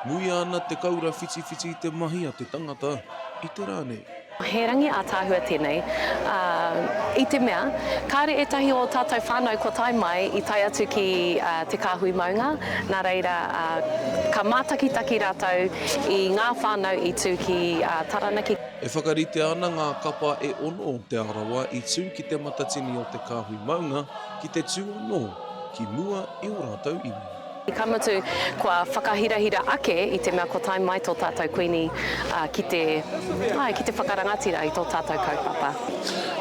Muia ana te kaura whitiwhiti i te mahi a te tangata i te ra nei. He rangi ātaahua tēnei, ā, i te mea, kāore ētahi o ō tātou whānau kua tae mai i tae atu ki te kāhui maunga, nā reira, ka mātakitaki rātou i ngā whānau i tū ki Taranaki. E whakaritea ana ngā kapa e ono o Te Arawa i tū ki te matatini o te kāhui maunga, ki te tū anō ki mua i ō rātou iwi. Ka mutu, kua whakahirahira ake i te mea kua tae mai tō tātou Kuini ki te, āe, ki te whakarangatira i tō tātou kaupapa.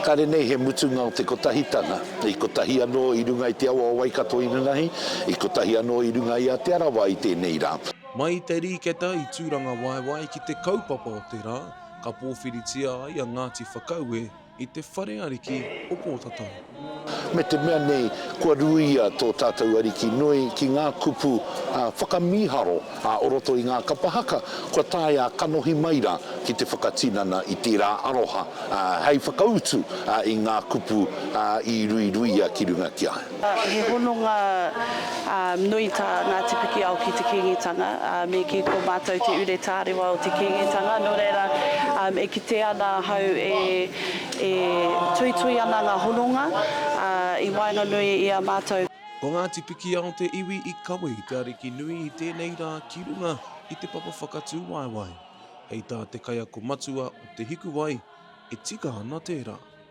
Kāre nei he mutunga o te Kotahitanga, i kotahi anō i runga i te awa o Waikato inanahi, i kotahi anō i runga i a Te Arawa i tēnei rā. Mai i te rīketa i Tūrangawaewae ki te kaupapa o te rā, ka pōwhiritia ai a Ngāti Whakaue I te whare ariki o Pōtatau. Me te mea nei, kua ruia tō tātou Ariki nui ki ngā kupu whakamīharo o roto i ngā kapa haka, kua taea kanohi mai rā ki te whakatinana i tērā aroha hei whakautu i ngā kupu i ruiruia ki runga ki a. He hononga nui tā Ngāti Pikiao ki te Kīngitanga, me kī ko mātou te ure tārewa o te Kīngitanga, nō reira, e kite ana ahau e tuitui ana ngā hononga i waenganui i a mātou. Ko Ngāti Pikiao te iwi i kawe i te ariki nui i tēnei rā ki runga i te papa whakatūwaewae. Hei tā te kaiako matua o Te Hikuwai, e tika ana tērā.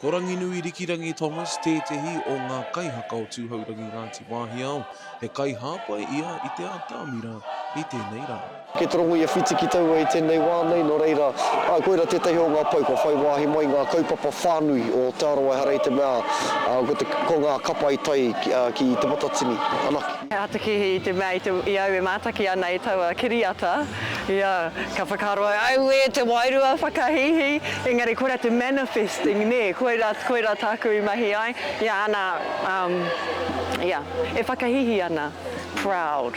Ko Ranginui Rikirangi Thomas tētehi o ngā kaihaka o Tūhourangi Ngāti Wāhiao, he kaihāpai ia i te atamira i tēnei rā. Kei te rongo i a Whiti ki taua i tēnei wā nei, nō reira, koirā tētahi o ngā pou kua whai wāhi mai i ngā kaupapa whānui o Te Arawa ehara i te mea ko ngā kapa i tae ki Te Matatini anake. He aha te kīhī i te mea i au e mātaki ana i taua kiriata? Ia, ka whakaaro ai, Auē, te wairua whakahīhī, engari koirā te manifesting, nē, koirā, koirā tāku i mahi ai. Ia, ana, um, ia, e whakahīhī ana, proud.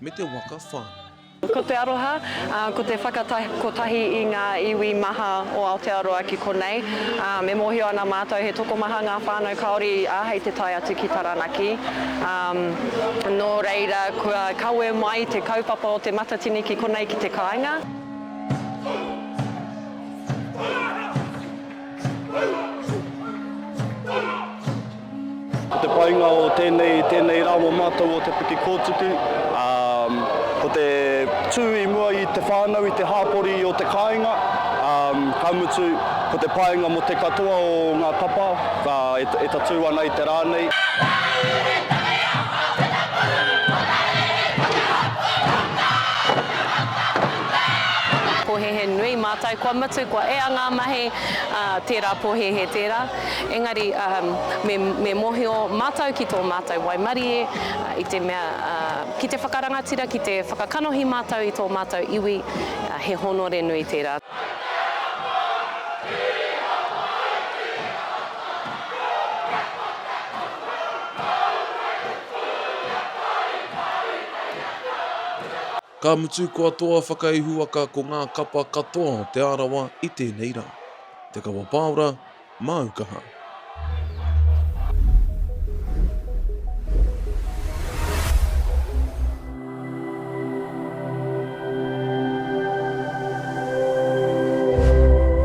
me te waka whānui. Ko te aroha, ko te whakatahi kotahi i ngā iwi maha o Aotearoa ki konei. E mōhio ana mātou he tokomaha ngā whānau Kāori i āhei te tae atu ki Taranaki. Nō reira, kua kawe mai te kaupapa o Te Matatini ki konei ki te kāinga. Ko te painga o tēnei, tēnei rā mō mātou o Te Puke Kōtuku, ko te tū i mua i te whānau, i te hāpori o te kāinga, ka mutu, ko te painga mō te katoa o ngā kapa e tatū ana i te rā nei. Pohehe nui mātou kua mutu, kua ea ngā mahi, ā, tērā pohehe tērā. Engari, uhm, me, me mōhio mātou ki tō mātou waimarie, i te mea, ā, ki te whakarangatira, ki te whakakanohi mātou i tō mātou iwi, ā, he hōnore nui tērā. Ka mutu kua toa whakaihuwaka ko ngā kapa katoa o Te Arawa i tēnei rā. Te Kawa Pāora, māu kaha.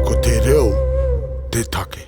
Ko te reo te take.